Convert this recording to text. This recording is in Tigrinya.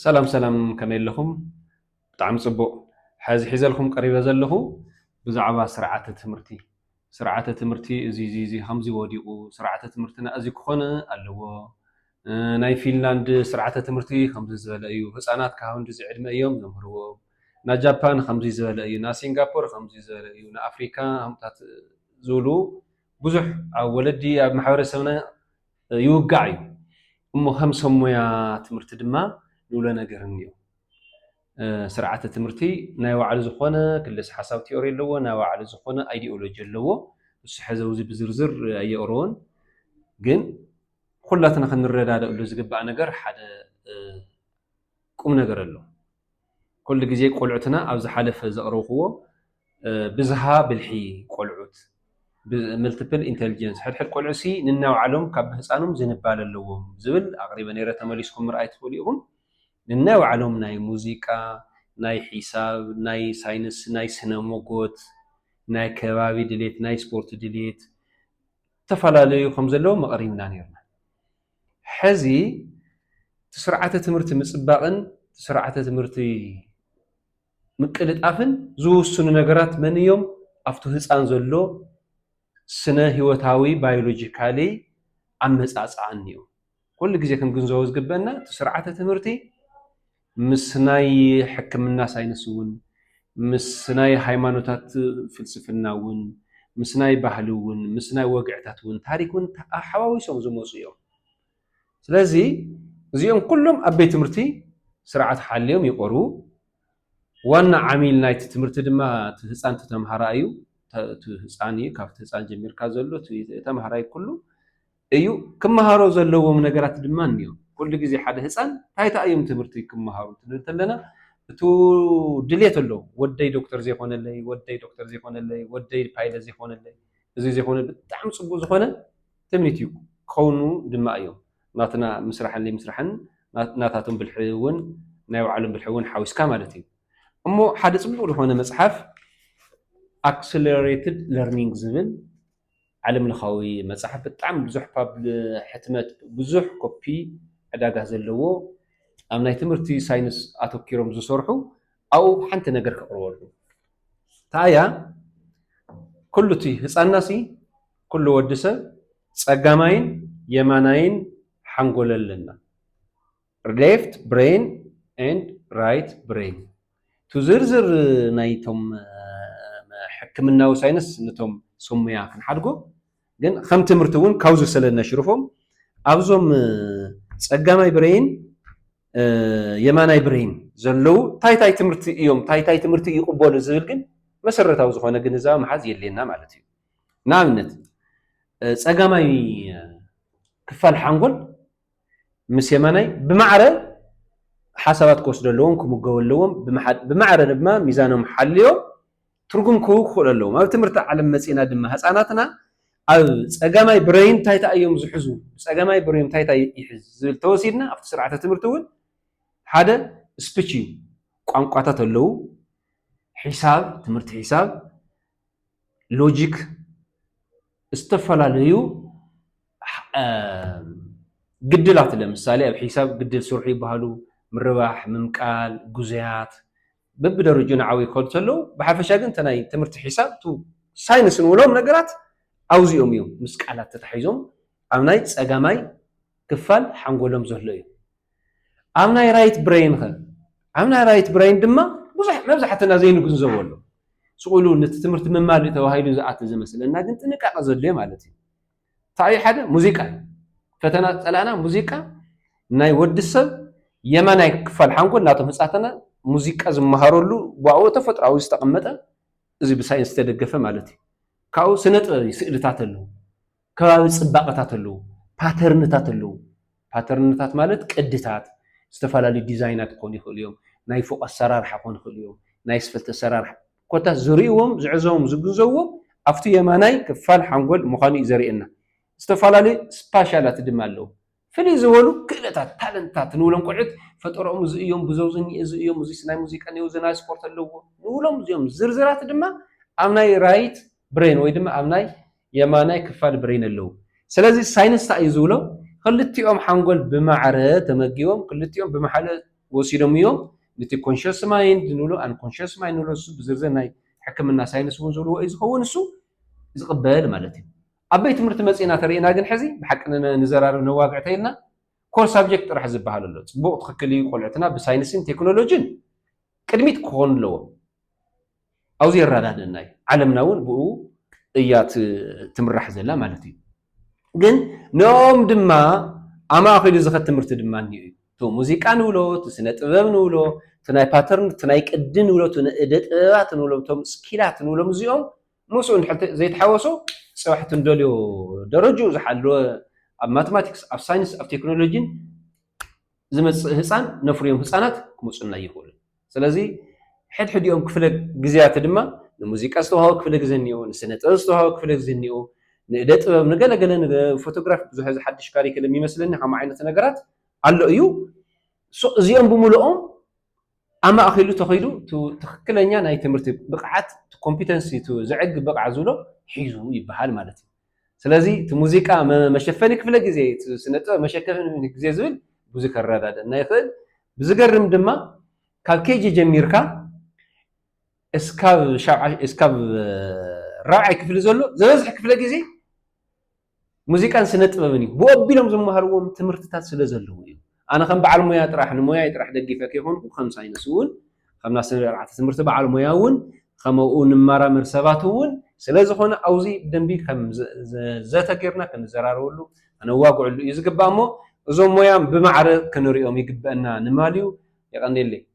ሰላም ሰላም ከመይ ኣለኹም ብጣዕሚ ፅቡቅ ሐዚ ሒዘልኩም ቀሪበ ዘለኹ ብዛዕባ ስርዓተ ትምህርቲ ስርዓተ ትምህርቲ እዚ እዚ ከምዚ ወዲቁ ስርዓተ ትምህርትና እዚ ክኾን ኣለዎ ናይ ፊንላንድ ስርዓተ ትምህርቲ ከምዚ ዝበለ እዩ ህፃናት ካብ ክንድዚ ዕድመ እዮም ዘምህርዎም ናይ ጃፓን ከምዚ ዝበለ እዩ ናይ ሲንጋፖር ከምዚ ዝበለ እዩ ናይ ኣፍሪካ ከምታት ዝብሉ ብዙሕ ኣብ ወለዲ ኣብ ማሕበረሰብና ይውጋዕ እዩ እሞ ከም ሰብ ሞያ ትምህርቲ ድማ ንብሎ ነገር እኒኦ። ስርዓተ ትምህርቲ ናይ ባዕሉ ዝኾነ ክልስ ሓሳብ ቲዮሪ ኣለዎ፣ ናይ ባዕሉ ዝኾነ ኣይዲኦሎጂ ኣለዎ። ንሱ ሕዚ ኣብዚ ብዝርዝር ኣየቕረቦን፣ ግን ኩላትና ክንረዳደእሉ ዝግባእ ነገር ሓደ ቁም ነገር ኣሎ። ኩሉ ግዜ ቆልዑትና ኣብ ዝሓለፈ ዘቕረብክዎ ብዝሃ ብልሒ ቆልዑት፣ Multiple Intelligence፣ ሕድሕድ ቆልዑሲ ንናይባዕሎም ካብ ብህጻኖም ዝንባለ ኣለዎም ዝብል ኣቕሪበ ነይረ ተመሊስኩም ምርኣይ ትኽእሉ ኢኹም። ንናይባዕሎም ናይ ሙዚቃ፣ ናይ ሒሳብ፣ ናይ ሳይንስ፣ ናይ ስነ-ሞጎት፣ ናይ ከባቢ ድሌት፣ ናይ ስፖርት ድሌት ዝተፈላለዩ ከምዘለዎም ኣቕሪብና ነይርና። ሐዚ እቲ ስርዓተ ትምህርቲ ምፅባቕን እቲ ስርዓተ ትምህርቲ ምቅልጣፍን ዝውስኑ ነገራት መን እዮም? ኣብቱ ህፃን ዘሎ ስነ ህይወታዊ ባዮሎጂካሊ ኣመፃፅኣ እኒኦ። ኩሉ ግዜ ክንግንዘቦ ዝግበእና እቲ ስርዓተ ትምህርቲ ምስ ናይ ሕክምና ሳይንስ እውን፣ ምስ ናይ ሃይማኖታት ፍልስፍና እውን፣ ምስ ናይ ባህሊ እውን፣ ምስ ናይ ወግዕታት እውን፣ ታሪክ እውን ሓዋዊሶም ዝመፁ እዮም። ስለዚ እዚኦም ኩሎም ኣብ ቤት ትምህርቲ ስርዓት ሓልዮም ይቐርቡ። ዋና ዓሚል ናይቲ ትምህርቲ ድማ እቲ ህፃን እቲ ተምሃራይ እዩ። እቲ ህፃን እዩ ካብቲ ህፃን ጀሚርካ ዘሎ እቲ ተምሃራይ ኩሉ እዩ ክመሃሮ ዘለዎም ነገራት ድማ እንዮ ኩሉ ግዜ ሓደ ህጻን ታይታ እዮም ትምህርቲ ክመሃሩ ትብል ተለና እቱ ድልየት ኣሎ ወደይ ዶክተር ዘይኮነለይ ወደይ ዶክተር ዘይኮነለይ ወደይ ፓይለት ዘይኮነለይ እዙይ ዘይኮነ ብጣዕሚ ጽቡቅ ዝኾነ ትምኒት እዩ ክኸውኑ ድማ እዮም ናትና ምስራሕን ለይምስራሕን ናታቶም ብልሒ እውን ናይ ባዕሎም ብልሒ እውን ሓዊስካ ማለት እዩ እሞ ሓደ ጽቡቅ ዝኾነ መጽሓፍ ኣክስለሬትድ ለርኒንግ ዝብል ዓለም ለኻዊ መፅሓፍ ብጣዕሚ ብዙሕ ሕትመት ብዙሕ ኮፒ ዕዳጋ ዘለዎ ኣብ ናይ ትምህርቲ ሳይንስ ኣተኪሮም ዝሰርሑ ኣብኡ ሓንቲ ነገር ከቕርበሉ ታያ ኩሉ እቲ ህፃና ሲ ኩሉ ወዲ ሰብ ፀጋማይን የማናይን ሓንጎል ኣለና ሌፍት ብሬን ኤንድ ራይት ብሬን ቱ ዝርዝር ናይቶም ሕክምናዊ ሳይንስ ንቶም ስሙያ ክንሓድጎ ግን ከም ትምህርቲ እውን ካብዙ ስለ ነሽርፎም ኣብዞም ፀጋማይ ብሬን የማናይ ብሬን ዘለው እንታይ እንታይ ትምህርቲ እዮም እንታይ እንታይ ትምህርቲ ይቕበሉ ዝብል ግን መሰረታዊ ዝኾነ ግንዛበ መሓዝ የድልየና ማለት እዩ። ንኣብነት ፀጋማይ ክፋል ሓንጎል ምስ የማናይ ብማዕረ ሓሳባት ክወስዱ ኣለዎም፣ ክምገቡ ኣለዎም፣ ብማዕረ ድማ ሚዛኖም ሓልዮም ትርጉም ክህቡ ክኽእሉ ኣለዎም። ኣብ ትምህርቲ ዓለም መጺእና ድማ ህጻናትና ኣብ ጸጋማይ ብረይን እንታይ እንታይ እዮም ዝሕዙ፣ ጸጋማይ ብረዮም እንታይ እንታይ ይሕዝ ዝብል ተወሲድና ኣብቲ ስርዓተ ትምህርቲ እውን ሓደ ስፒች እዩ። ቋንቋታት ኣለዉ፣ ሒሳብ፣ ትምህርቲ ሒሳብ፣ ሎጂክ ዝተፈላለዩ ግድላት ለምሳሌ ኣብ ሒሳብ ግድል ስርሑ ይበሃሉ ምርባሕ፣ ምምቃል፣ ግዙያት በብደረጁ ንዓው ይከዱ ተለው ብሓፈሻ ግን ናይ ትምህርቲ ሒሳብ ሳይንስ ንብሎም ነገራት ኣውዚኦም እዮም ምስ ቃላት ተታሒዞም ኣብ ናይ ፀጋማይ ክፋል ሓንጎሎም ዘሎ እዩ። ኣብ ናይ ራይት ብረይንኸ? ኣብ ናይ ራይት ብረይን ድማ ብዙሕ መብዛሕትና ዘይንግንዘቦ ኣሎ። ስቕ ኢሉ ነቲ ትምህርቲ ምማር እዩ ተባሂሉ ዝኣቲ ዝመስለና ግን ጥንቃቐ ዘድልዮ ማለት እዩ። እንታይ እዩ ሓደ ሙዚቃ እዩ። ፈተና ዝጸላእና ሙዚቃ ናይ ወዲ ሰብ የማናይ ክፋል ሓንጎል ናቶም ህጻትና ሙዚቃ ዝመሃረሉ ብኣኡ ተፈጥሮኣዊ ዝተቐመጠ እዚ ብሳይንስ ዝተደገፈ ማለት እዩ። ካብኡ ስነ ጥበብ እዩ ስእልታት ኣለዉ። ከባቢ ፅባቐታት ኣለዉ፣ ፓተርንታት ኣለዉ። ፓተርንታት ማለት ቅድታት ዝተፈላለዩ ዲዛይናት ክኾኑ ይኽእሉ እዮም። ናይ ፎቕ ኣሰራርሓ ክኾኑ ይኽእሉ እዮም። ናይ ኣስፈልቲ ኣሰራርሓ ኮታስ ዝርእዎም፣ ዝዕዘቦም፣ ዝግንዘብዎም ኣብቲ የማናይ ክፋል ሓንጎል ምዃኑ እዩ ዘርእየና። ዝተፈላለዩ ስፓሻላት ድማ ኣለዉ። ፍልይ ዝበሉ ክእለታት፣ ታለንትታት፣ ንብሎም ቆልዑት ፈጠረኦም እዚ እዮም፣ ብዘውዚ እኒኤ እዚ እዮም፣ እዚስ ናይ ሙዚቃ እኒኤዎ፣ እዚ ናይ ስፖርት ኣለዎ፣ ንብሎም እዚኦም ዝርዝራት ድማ ኣብ ናይ ራይት ብረይን ወይ ድማ ኣብ ናይ የማናይ ክፋል ብረይን ኣለዉ። ስለዚ ሳይንስ ታይ እዩ ዝብሎ ኽልቲኦም ሓንጎል ብማዕረ ተመጊቦም ኽልቲኦም ብማሓለ ወሲዶም እዮም ንቲ ኮንሸስ ማይንድ ንብሎ ኣንኮንሸስ ማይንድ ንብሎ እሱ ብዝርዝር ናይ ሕክምና ሳይንስ እውን ዝብልዎ እዩ ዝኸውን እሱ ዝቕበል ማለት እዩ። ኣብ ቤት ትምህርቲ መጺእና ተሪእና ግን ሕዚ ብሓቂ ንዘራርብ ነዋግዕ ተይልና ኮር ሳብጀክት ጥራሕ ዝብሃል ኣሎ ጽቡቅ ትክክል እዩ ቆልዕትና ብሳይንስን ቴክኖሎጅን ቅድሚት ክኾኑ ኣለዎም ኣውዚ የራዳደና እዩ ዓለምና እውን ብኡ እያ ትምራሕ ዘላ ማለት እዩ ግን ንኦም ድማ ኣማእኪሉ ዝኸት ትምህርቲ ድማ እኒኡ እዩ እቲ ሙዚቃ ንብሎ እቲ ስነ ጥበብ ንብሎ እቲ ናይ ፓተርን እቲ ናይ ቅዲ ንብሎ እቲ ንእደ ጥበባት ንብሎም እቶም ስኪላት ንብሎም እዚኦም ምስኡ እንድሕር ዘይተሓወሶ ፅባሕ እቲ ንደልዮ ደረጅኡ ዝሓለወ ኣብ ማትማቲክስ፣ ኣብ ሳይንስ፣ ኣብ ቴክኖሎጂን ዝመፅእ ህፃን ነፍርዮም ህፃናት ክመፁና ኣይኽእሉን። ስለዚ ሕድሕዲኦም ክፍለ ግዝያት ድማ ንሙዚቃ ዝተውሃቦ ክፍለ ግዘ እኒኦ፣ ንስነ ጥበብ ዝተውሃቦ ክፍለ ግዘ እኒኦ፣ ንእደ ጥበብ ንገለ ገለ ንፎቶግራፍ ብዙሕ ሕዚ ሓዱሽ ካሪክለም ይመስለኒ ከምኡ ዓይነት ነገራት ኣሎ እዩ። እዚኦም ብምልኦም ኣማእኪሉ ተኺሉ እቲ ትኽክለኛ ናይ ትምህርቲ ብቕዓት እቲ ኮምፒተንሲ እቲ ዘዕግብ ብቕዓት ዝብሎ ሒዙ ይበሃል ማለት እዩ። ስለዚ እቲ ሙዚቃ መሸፈኒ ክፍለ ግዜ እቲ ስነ ጥበብ መሸፈኒ ግዜ ዝብል ብዙ ከረዳደኣና ይኽእል። ብዝገርም ድማ ካብ ኬጂ ጀሚርካ እስካብ ሻብዓይ እስካብ ራብዓይ ክፍሊ ዘሎ ዝበዝሕ ክፍለ ግዜ ሙዚቃን ስነ ጥበብን እዩ። ብኡ ኣቢሎም ዝመሃርዎም ትምህርትታት ስለ ዘለዉ እዩ። ኣነ ከም በዓል ሞያ ጥራሕ ንሞያይ ጥራሕ ደጊፈ ከይኮንኩ ከም ሳይንስ እውን ከም ናብ ስነ ኣርዓተ ትምህርቲ በዓል ሞያ እውን ከመኡ ንመራመር ሰባት እውን ስለ ዝኾነ ኣውዚ ብደንቢ ከም ዘተ ጌርና ክንዘራረበሉ ከነዋግዕሉ እዩ ዝግባእ እሞ እዞም ሞያ ብማዕረ ክንሪኦም ይግበእና ንማል እዩ። የቀንየለይ።